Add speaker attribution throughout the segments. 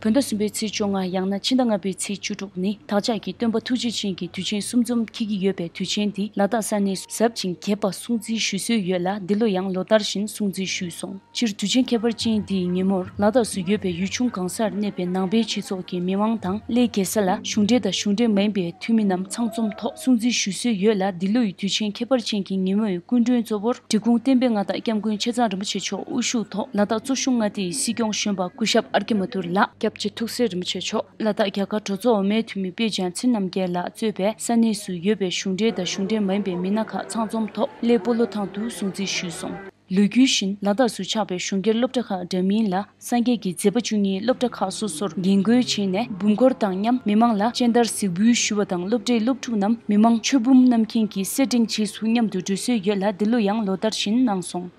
Speaker 1: བོད་ཟླ་གསུམ་པའི་ཚེས་བཅོ་ལྔ་ཡང་ན་ཕྱི་ཟླ་ལྔ་པའི་ཚེས་བཅུ་དྲུག་ནི་བདག་ཅག་གི་སྟོན་པ་ཐུགས་རྗེ་ཅན་གྱི་དུས་ཆེན་གསུམ་འཛོམས་འཁེལ་གྱི་ཡོད་པས་དུས་ཆེན་འདི་ལ་དག་ས་ནས་གཟབ་ཅིང་རྒྱས་པ་སྲུང་བརྩི་ཞུ་སྲོལ་ཡོད་ལ་འདི་ལོ་ཡང་ལོ་ལྟར་བཞིན་སྲུང་བརྩི་ཞུས་སོང་སྤྱིར་དུས་ཆེན་ཁྱད་པར་ཅན་འདིའི་ཉིན་མོར་ལ་དྭགས་སུ་ཡོད་པའི་ཡུལ་ཆུང་གང་སར་གནས་པའི་ནང་པའི་སྤྱི་ཚོགས་ཀྱི་མི་དབང་དང་སླད་རྒྱལ་ས་ལ་གཞུང་འབྲེལ་དང་གཞུང་འབྲེལ་མིན་པའི་འཐུས་མི་རྣམས་ཚང་འཛོམས་ཐོག་སྲུང་བརྩི་ཞུ་སྲོལ་ཡོད་ལ་འདི་ལོའི་དུས་ཆེན་ཁྱད་པར་ཅན་གྱི་ཉིན་མོའི་སྐུ་མགྲོན་གཙོ་བོར་འབྲི་གུང་བསྟན་པའི་མངའ་བདག་སྐྱབས་མགོན་ཆེ་ཚང་རིན་པོ་ཆེ་མཆོག་དབུ་བཞུགས་ཐོག་ལ་དྭགས་གཙོ་གཞུང་མངའ་སྡེའི་སྲིད་སྐྱོང་གཞོན་པ་སྐུ་ཞབས་ཨར་གྷི་མ་ཐུར་ལགས་སྐྱབས་རྗེ་ཐུགས་སྲས་རིན་པོ་ཆེ་མཆོག་ལ་དྭགས་རྒྱ་གར་གྲོས་ཚོགས་འོག་མའི་འཐུས་མི་པེ་ཅང་ཚིན་རྣམ་རྒྱལ་ལགས་གཙོས་པའི་ས་གནས་སུ་ཡོད་པའི་གཞུང་འབྲེལ་དང་གཞུང་འབྲེལ་མ་ཡིན་པའི་མི་སྣ་ཁག་ཚང་འཛོམས་ཐོག་སླད་སྤོ་ལོ་ཐང་དུ་སྲུང་བརྩི་ཞུས་སོང། ལོ་རྒྱུས་བཞིན་ལ་དྭགས་སུ་ཆགས་པའི་གཞུང་སྒེར་སློབ་གྲྭ་ཁག་འདྲ་མིན་ལ་སངས་རྒྱས་ཀྱི་མཛད་པ་བཅུ་གཉིས་སློབ་གྲྭ་ཁག་སོ་སོར་རྒྱན་བཀོལ་བྱས་ནས་འབུམ་སྐོར་དང་མཉམ་མི་མང་ལ་སྤྱན་བསྟར་གཟིགས་འབུལ་ཞུ་བ་དང་སློབ་གྲྭའི་སློབ་ཕྲུག་རྣམས་མི་མང་མཆོད་འབུམ་བསྣམས་མཁན་གྱི་སེར་སྦྲེངས་རྗེས་སུ་མཉམ་དུ་འགྲོལ་སྲོལ་ཡོད་ལ་འདི་ལོ་ཡང་ལོ་ལྟར་བཞིན་གནང་སོང།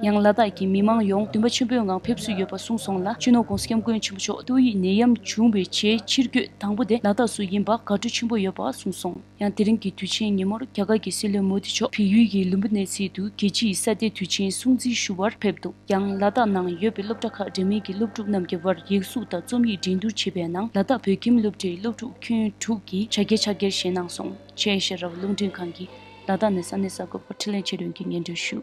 Speaker 1: ཡང་ལ་དྭགས་ཀྱི་མི་མང་ཡོངས་འདུན་པ་ཆེན་པོའི་ངང་ཕེབས་བསུ་ཡོད་པ་གསུངས་སོང་ལ་སྤྱི་ནོར ྋགོང་ས ྋསྐྱབས་མགོན་ཆེན་པོ་མཆོག་ཏུའུ་ཡི་ནད་ཡམས་བྱུང་བའི་ཆེའི་ཕྱིར་སྐྱོད་དང་པོ་དེ་ལ་དྭགས་སུ་ཡིན་པར་དགའ་སྤྲོ་ཆེན་པོ་ཡོད་པ་གསུངས་སོང། ཡང་དེ་རིང་གི་དུས་ཆེན་ཉིན་མོར་རྒྱ་གར་གྱི་སྲིད་བློན་མོ་དྷི་མཆོག་བལ་ཡུལ་གྱི་ལུམྦུ་ནེ་སི་ཏུ་རྒྱལ་སྤྱིའི་ས་དེའི་དུས་ཆེན་སྲུང་བརྩི་ཞུ་བར་ཕེབས་འདུག་ཡང་ལ་དྭགས་ནང་ཡོད་པའི་སློབ་གྲྭ་ཁག་འདྲ་མིན་གྱི་སློབ་ཕྲུག་རྣམས་ཀྱི་བར་ཡིག་གཟུགས་དང་རྩོམ་ཡིག་འགྲན་བསྡུར་བྱས་པའི་ནང་ལ་དྭགས་བོད་ཁྱིམ་སློབ་གྲྭའི་སློབ་ཕྲུག་ཁྱོན་དྲུག་གིས་བྱ་དགའི་ཕྱག་འཁྱེར་བཞེས་གནང་སོང། ཆེ་ཨེ་ཤ་ར་བ་རླུང་འཕྲིན་ཁང་གིས་ལ་དྭགས་ནས་ས་གནས་གསར་འགོད་པར་འཕྲིན་ལན་ཆེད་དོན་གྱི་སྙན་སྒྲོན་ཞུ།